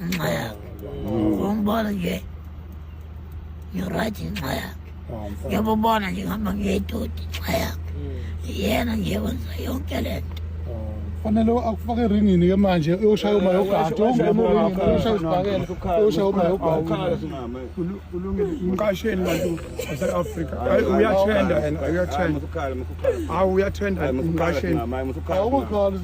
ngenxa yakhe ngiyambona nje ngiyoright ngenxa yakhe ngiyabubona nje ngihamba ngiyedodi ngenxa yakhe yena nje wenza yonke le nto fanele akufake eringini ke manje uyoshaya uma yogada uyoshaya isibhakela uyoshaya uma yogada umqasheli bantu base-afrika uyathenda yena uyathenda hawu uyathenda umqasheli awukhali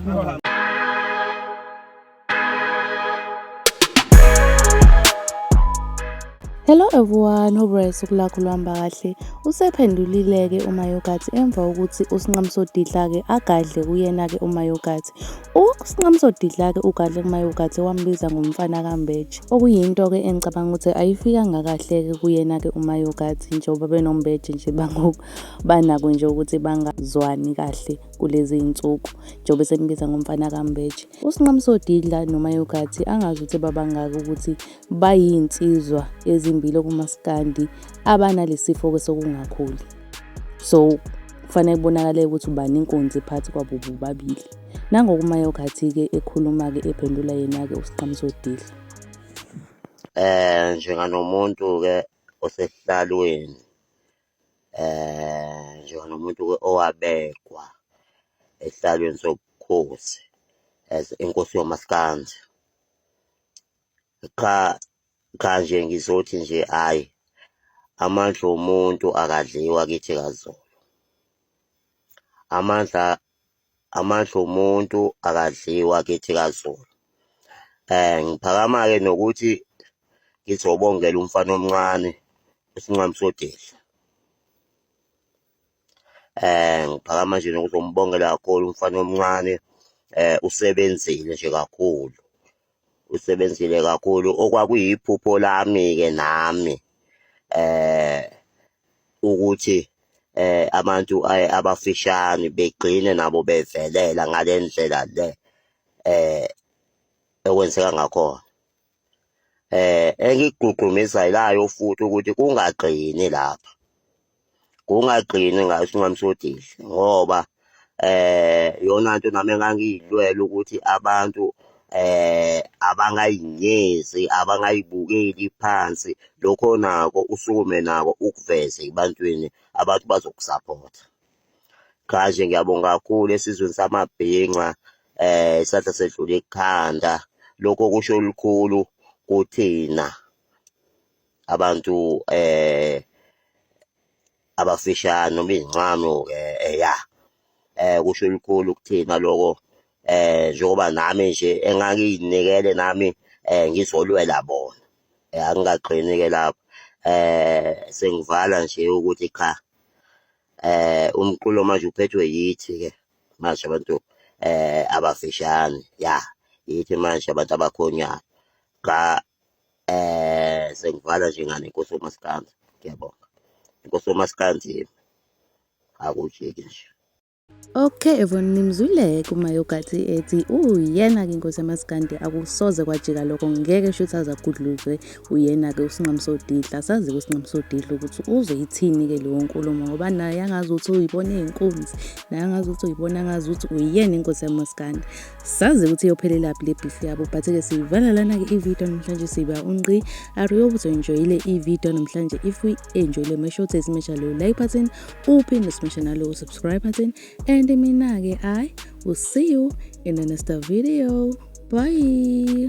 Hello everyone, hope usuku lakho luhamba kahle. Usephendulile-ke uMayogathi emva kokuthi uSinqamsodidla-ke agadle kuyena-ke uMayogathi. USinqamsodidla-ke ugadle kuMayogathi wambiza ngomfana kaMbeje, okuyinto-ke engicabanga ukuthi ayifikanga kahle-ke kuyena-ke uMayogathi njengoba benoMbeje nje bangoku banako nje ukuthi bangazwani kahle kulezi iy'nsuku njengoba esembiza ngomfana kaMbeje. USinqamso Didla noMayo Gathi angazi ukuthi babangaki ukuthi bayinsizwa ezimbili okumaskandi abanalesifo-ke sokungakhuli. So kufanele kubonakale ukuthi ubani inkunzi phakathi kwabo bobabili. Nangoku uMayo Gathi-ke ekhuluma-ke ephendula yena-ke uSinqamso Didla. Eh njenganomuntu-ke osesihlalweni um njengomuntu owabekwa esihlalweni sobukhosi as inkosi yomaskandi qha qha nje ngizothi nje hhayi amandla omuntu akadliwa kithi kazulu amandla Amandla omuntu akadliwa kithi kaZulu. Eh ngiphakama-ke nokuthi ngizobongela umfana omncane uSinqami Sodihla. Eh ngiphakama nje nokuzombongela kakhulu umfana omncane eh usebenzile nje kakhulu. Usebenzile kakhulu okwakuyiphupho lami-ke nami eh ukuthi eh abantu abafishane begcine nabo bevelela ngale ndlela le eh ekwenzeka ngakhona eh engigqugqumezelayo futhi ukuthi kungagcini lapha kungagcini ngasinqamsodile ngoba eh, eh yona nto nami engangiyilwela ukuthi abantu eh abangayinyezi abangayibukeli phansi lokho nako usukume nako ukuveze ebantwini abantu bazokusaphotha kaje ngiyabonga kakhulu esizweni samabhinca eh isandla sedlule ekhanda lokho kusho olukhulu kuthina abantu eh abafishane noma izincane-ke eh, ya eh kusho elikhulu kuthina lokho eh njengoba nami nje engangiyinikele nami eh ngizolwela bona eh angingagcini ke lapho eh sengivala nje ukuthi cha eh umculo manje uphethwe yithi ke manje abantu eh abafishane ya yithi manje abantu abakhonyayo cha eh sengivala nje ngane inkosi uMaskandi ngiyabonga inkosi uMaskandi akujiki nje Okay Evon nimzwile kumayogathi ethi uyena ke inkosi yamasikandi akusoze kwajika lokho ngeke shuthi azagudluzwe uyena ke usinqamu sodidla sazi kusinqamu sodidla ukuthi uzoyithini ke leyo nkulumo ngoba naye angazi ukuthi uyibona izinkunzi naye angazi ukuthi uyibona angazi ukuthi uyena inkosi yamasikandi sazi ukuthi iyophelelaphi le beef yabo but-ke siyivala lana-ke ividiyo namhlanje siba unqi ariyo ukuthi uenjoyile ividiyo namhlanje if uyi-enjoyile make sure ukuthi simesha leyo like button uphinde simesha nalowo subscribe button and mina-ke i will see you in the next video bye